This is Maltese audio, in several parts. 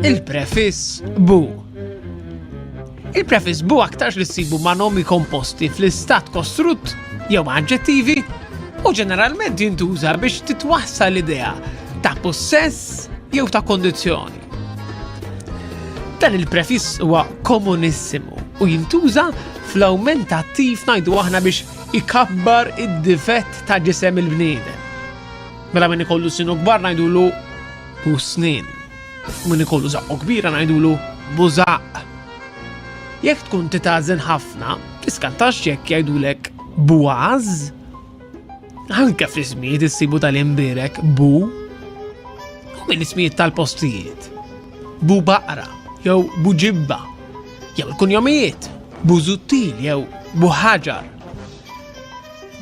Il-prefiss bu. Il-prefiss bu aktarx li ssibu ma' nomi komposti fl-istat kostrutt jew ma' aġġettivi u ġeneralment jintuża biex titwassal l-idea ta' possess jew ta' kondizjoni. Dan il-prefiss huwa komunissimu u jintuża fl-awmentattiv najdu aħna biex ikabbar id-difett ta' ġisem il-bniedem. Mela min ikollu sinu kbar ngħidulu bu snin. Min ikollu zaqqu kbira ngħidulu bu zaqq. Jekk tkun titażen ħafna, tiskantax jekk jgħidulek bu għaż. Anke fl-ismijiet issibu tal-imbirek bu u minn ismijiet tal-postijiet. Bu baqra jew bu ġibba jew il-kunjomijiet Busuttil jew Buħaġar.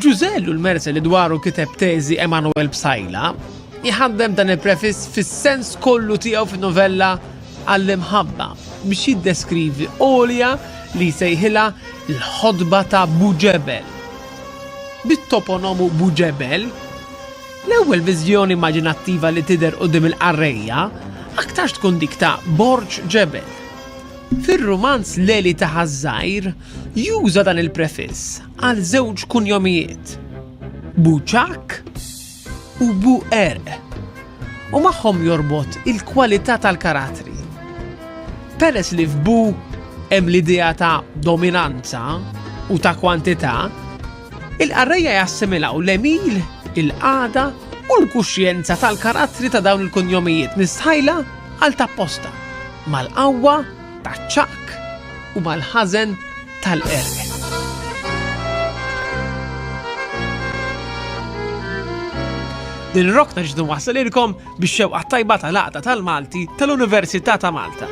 Ġużell u l-merse li dwaru kiteb teżi Emanuel Psaila jħaddem dan il-prefiss fis-sens kollu tiegħu fin-novella għall-imħabba biex jiddeskrivi għolja li jsejħilha l-ħodba ta' Buġebel. Bit-toponomu Buġebel, l-ewwel viżjoni immaġinattiva li tidher qudiem il-qarrejja aktarx tkun dik ta' Borġ Ġebel. Fir-rumanz L-Għeli ta' Ħaż-Żgħir juża dan il-prefiss għal żewġ kunjomijiet, Buċakk u Buqerq, u magħhom jorbot il-kwalità tal-karatri. Peress li f'Bu hemm l-idea ta' dominanza u ta' kwantità, Il-qarrejja jassimilaw l-għemil, il-qagħda u l-kuxjenza tal-karattri ta' dawn il-kunjomijiet mistħajla għal tapposta, mal-qawwa taċ-ċaqk u mal-ħażen tal-qerq. Din ir-rokna ġiet inwassalilkom bix-xewqa tajba tal-Għaqda tal-Malti tal-Università ta' Malta.